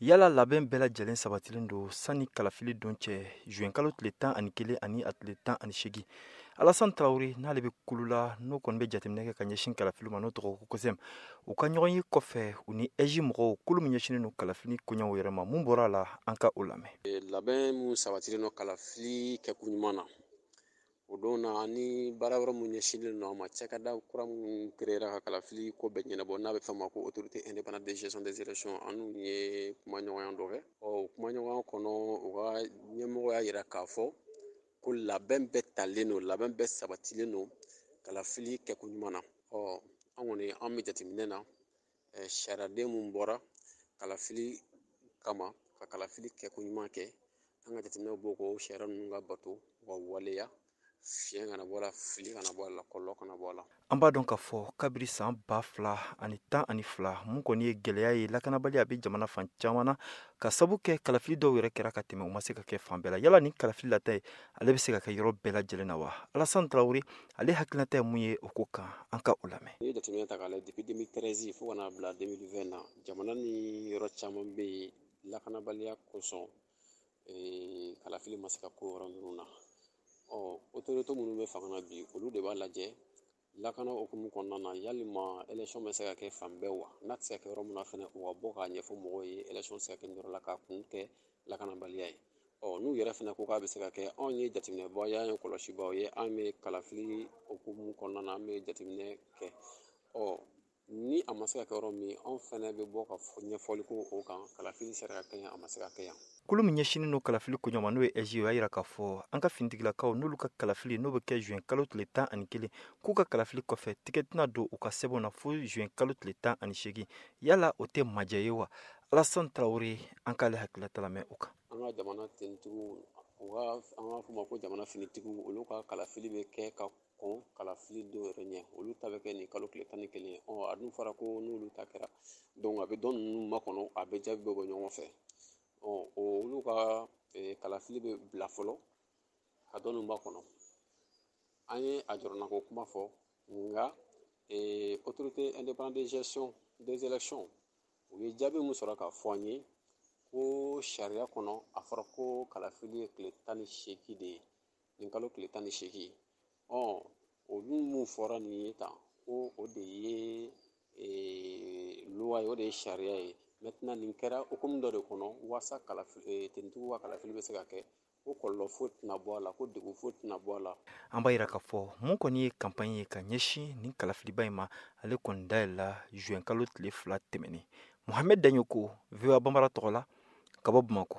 yala labɛn bɛɛ lajɛlen sabatilen don sanni kalafili don cɛ juin kalo tile tan ani kelen ani a tile tan ani seegin alasan tarawele n'ale bɛ kulu la n'o kɔni bɛ jateminɛ kɛ ka ɲɛsin kalafili ma n'o tɔgɔ ko kosɛm u ka ɲɔgɔn ye kɔfɛ u ni ɛzi mɔgɔw kulu min ɲɛsinen don kalafili koɲɛw yɛrɛ ma mun bɔra a la an ka o lamɛn labɛn min sabatilen don kalafili kɛko ɲuman na O don na ni baara yɔrɔ mun ɲɛsinlen don a ma cakɛda kura mun créera ka kalafili ko bɛɛ ɲɛnabɔ n'a bɛ fɔ a ma ko autorité indépendante de gestion des élections an n'u ye kumaɲɔgɔnya dɔ kɛ ɔ o kumaɲɔgɔnya kɔnɔ u ka ɲɛmɔgɔ y'a jira k'a fɔ ko labɛn bɛɛ talen don labɛn bɛɛ sabatilen don kalafili kɛko ɲuman na ɔ an kɔni an bɛ jateminɛ na sariyaden minnu bɔra kalafili kama ka kalafili kɛko ɲuman kɛ an ka jateminɛw b'o ko sariya ninnu ka bato wa waleya fiɲɛ kana bɔ a la fili kana bɔ a la kɔlɔlɔ kana bɔ a la an b'a dɔn k'a fɔ kabiri san ba fila ani tan ani fila mun kɔni ye gɛlɛya ye lakanabaliya bɛ jamana fan caman na ka sabu kɛ kalafili dɔw yɛrɛ kɛra ka tɛmɛ u ma se ka kɛ fan bɛɛ la yala ni kalafili lata ye ale bɛ se ka kɛ yɔrɔ bɛɛ lajɛlen na wa alasan tarawele ale hakilinata ye mun ye o ko kan an ka o lamɛn n'i ye jateminɛ ta k'a lajɛ depuis 2013 fo ka n'a bila 2020 na jamana nin yɔrɔ caman bɛ yen lakanabaliya kosɔn eh, kalafili ma se ka kɛ o yɔrɔ ninnu na ɔ autorité minnu bɛ fanga na bi olu de b'a lajɛ lakana hukumu kɔnɔna na yalima élection bɛ se ka kɛ fan bɛɛ wa n'a tɛ se ka kɛ yɔrɔ min na fana u ka bɔ k'a ɲɛfɔ mɔgɔw ye élection tɛ se ka kɛ yɔrɔ la k'a kun kɛ lakanabaliya ye ɔ n'u yɛrɛ fana ko k'a bɛ se ka kɛ anw ye jateminɛbaaw ye an ye kɔlɔsibaaw ye an bɛ kalafili hukumu kɔnɔna na an bɛ jateminɛ kɛ ɔ ni a ma se ka kɛ yɔrɔ min anw fana bɛ bɔ ka ɲɛfɔli kɛ o kan kalafili sera ka kɛ yan a ma se ka kɛ yan kulu min ɲɛsinin don kalafili koɲɛw ma n'o ye ɛzi o y'a jira k'a fɔ an ka finitigilakaw n'olu ka kalafili n'o bɛ kɛ zuɛn kalo tile tan ani kelen k'u ka kalafili kɔfɛ tigɛ tɛna don u ka sɛbɛnw na fo zuɛn kalo tile tan ani seegin yala o tɛ majɛ ye wa alasan tarawele an k'ale hakililata lamɛn o kan an ka jamana tentigiw u ka an b'a fɔ ma ko jamana finitigiw olu ka kalafili bɛ kɛ ka kɔn kalafili don yɛrɛ ɲɛ olu ta bɛ kɛ nin kalo tile tan ni kelen ɔ a dun fɔra ko n'olu ta kɛra donc a bɛ dɔ ninnu makɔnɔ a bɛɛ jaabi bɛ bɔ ɲɔgɔn fɛ ɔ olu ka kalafili bɛ bila fɔlɔ ka dɔ ninnu makɔnɔ an ye a jɔrɔnako kuma fɔ nka autorité indépendante de gestion des élections u ye jaabi min sɔrɔ k'a fɔ an ye ko sariya kɔnɔ a fɔra ko kalafili ye tile tan ni seegin de ye nin kalo tile tan ni seegin ɔ olu mun fɔra nin ye tan ko o de ye loi ye o de ye sariya ye maintenant nin kɛra hukumu dɔ de kɔnɔ walasa tentigiw ka kalafili bɛ se ka kɛ ko kɔlɔlɔ foyi tɛna bɔ a la ko degun foyi tɛna bɔ a la an b'a jira k'a fɔ min kɔni ye kanpaɲi ye ka ɲɛsin nin kalafiliba in ma ale kɔni dayɛlɛla zuwɛn kalo tile fila tɛmɛnen mohamɛd daɲɔkɔ voa banbara tɔgɔ la ka bɔ bamakɔ